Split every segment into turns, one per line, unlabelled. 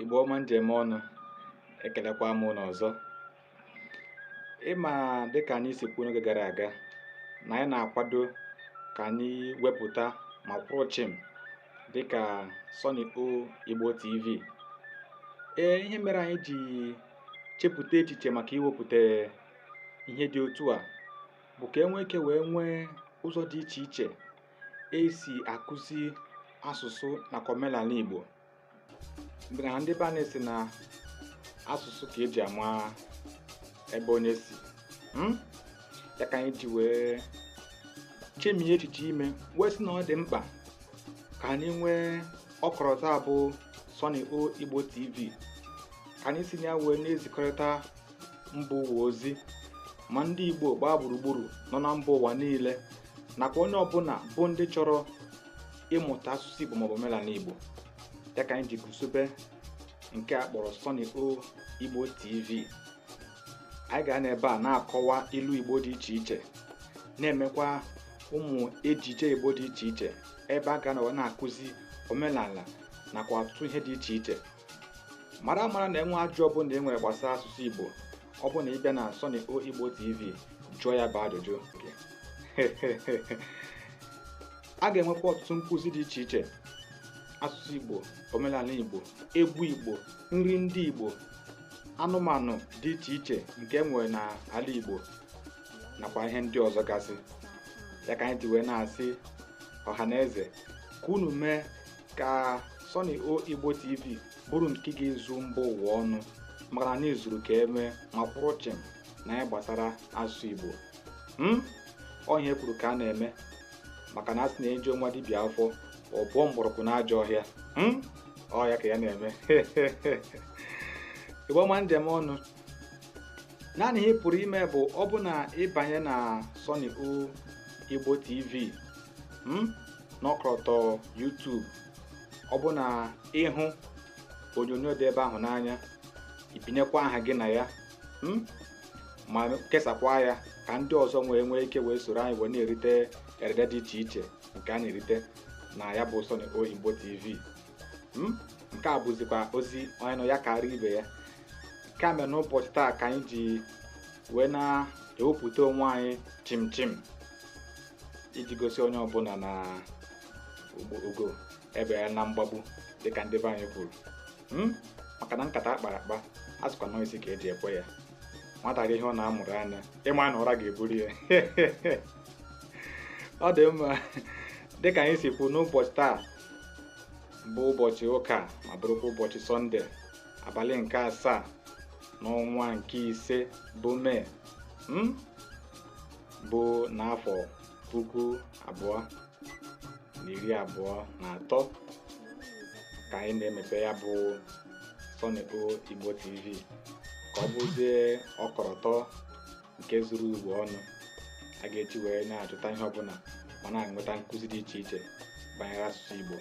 Igbo ọma m ji eme ọnụ ekelekwa m unu ọzọ ị ma dịka anyị si kwuo n'oge gara aga na anyị na-akwado ka anyị wepụta ma kwụrụ chịm dịka Sunny O Igbo TV ee ihe mere anyị ji chepụta echiche maka iwepụta ihe dị otu a bụ ka e nwee ike wee nwee ụzọ dị iche iche e si akụzi asụsụ nakwa omenala Igbo na ndị be anyị sị na asụsụ ka e ji ama ebe onye si hmm? ya ka anyị ji wee chemie echiche ime wee sị na ọ dị mkpa ka anyị nwee ọkọlọtọ a bụ Sunny O Igbo TV ka anyị si na ya wee na-ezikọrịta mba ụwa ozi ma ndị Igbo gbaa gburugburu nọ na mba ụwa niile nakwa onye ọbụla bụ ndị chọrọ ịmụta asụsụ Igbo maọbụ omenala Igbo ya ka anyị ji guzobe nke a kpọrọ Sunny O Igbo TV anyị ga-anọ ebe a na-akọwa ilu Igbo dị iche iche na-emekwa ụmụ ejije Igbo dị iche iche ebe a ga-anọrọ na-akụzi omenala nakwa ọtụtụ ihe dị iche iche mara mara na e nwee ajụjụ ọbụla e nwere gbasara asụsụ Igbo ọ bụ na ị bịa na Sunny O Igbo TV jụọ ya bụ ajụjụ a ga-enwekwa ọtụtụ nkụzi dị iche iche asụsụ igbo omenala igbo egwu igbo nri ndị igbo anụmanụ dị iche iche nke e nwere n'ala igbo nakwa ihe ndị ọzọ gasị ya ka anyị ji wee na-asị ọha na eze ka unu mee ka Sunny O Igbo TV bụrụ nke ga-ezu mba ụwa ọnụ maka na anyị zuru ka e mee ma kwụrụ chịm n'ihe gbasara asụsụ Igbo hmm? ọ ihe e kwuru ka a na-eme maka na a sị na e juo nwa dibịa afọ o buo mgbọrọgwụ n'ajọ ọhịa hmm? ọ ya ka ya na-eme Igbo ọma m ji eme ọnụ naanị ihe ị pụrụ ime bụ ọ bụ na ị banye na Sunny O Igbo TV hmm? n'ọkọlọtọ YouTube ọ bụ na ị hụ onyonyo dị ebe ahụ n'anya i binyekwa aha gị na ya hmm? ma kesakwa ya ka ndị ọzọ wee nwee ike wee soro anyị wee na-erite erede dị iche iche nke a na-erite na ya bụ Sunny O Igbo TV hmm? nke a bụzikwa ozi onye nụ ya kara ibe ya nke a mere n'ụbọchị taa ka anyị ji wee na-ewepụta onwe anyị chim chim iji gosi onye ọbụla na ugo ebeela na mgbagbu dịka ndị be anyị kwuru hmm? maka na nkata akpara akpa a sịkwa na ọ isi ka eji ekwe ya nwata rie ihe ọ na-amụrụ anya ịma na ụra ga-eburu ya ọ dị mma dịka anyị si kwuo n'ụbọchị taa bụ ụbọchị ụka ma bụrụkwa ụbọchị sọnde abalị nke asaa n'ọnwa nke ise bụ mee hmm? bụ n'afọ puku abụọ na iri abụọ na atọ ka anyị na-emepe ya bụ Sunny O Igbo TV ka ọ bụzie ọkọrọtọ nke zuru ụwa ọnụ a ga-eji wee na-achọta ihe ọbụla ma na-enweta nkụzi dị iche iche banyere asụsụ Igbo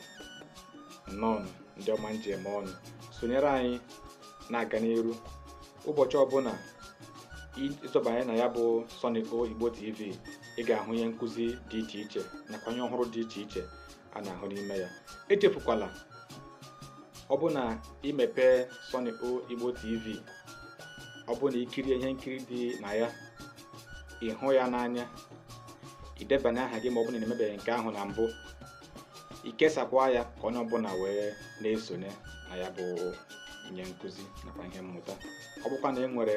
nnọọ ndị ọma m ji eme ọnụ sonyere anyị na-aga n'iru ụbọchị ọbụla ịzọbanye na ya bụ Sunny O Igbo TV ị ga-ahụ ihe nkụzi dị iche iche nakwa ihe ọhụrụ dị iche iche a na-ahụ n'ime ya echefukwala ọ bụ na imepe Sunny O Igbo TV ọ bụ na ikirie ihe nkiri dị na ya ịhụ ya n'anya idebanye aha gị ma ọ bụ na imebeghị nke ahụ na mbụ ikesakwa ya ka onye ọbụla wee na-esonye na ya bụ ihe nkụzi nakwa ihe mmụta ọ bụkwa na ị nwere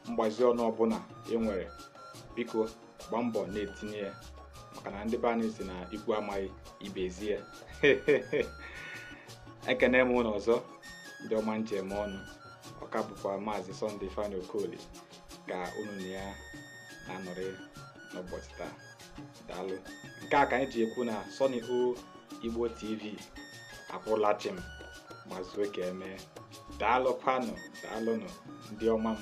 mgbazi ọnụ ọbụla ị nwere biko gbaa mbọ na-etinye ya maka na ndị be anyị si na ikwu amaghị ibe ezi ya ekene m unu ọzọ ndị ọma m ji eme ọnụ ọ ka bụkwa maazị Sunday ifeanyi okoli ka unu na ya na-anọrị n'ụbọchị taa daalụ nke a ka anyị ji ekwu na Sunny O Igbo TV akwụla chịm ma zuo ka emee daalụ kwanụ daalụnụ ndị ọma m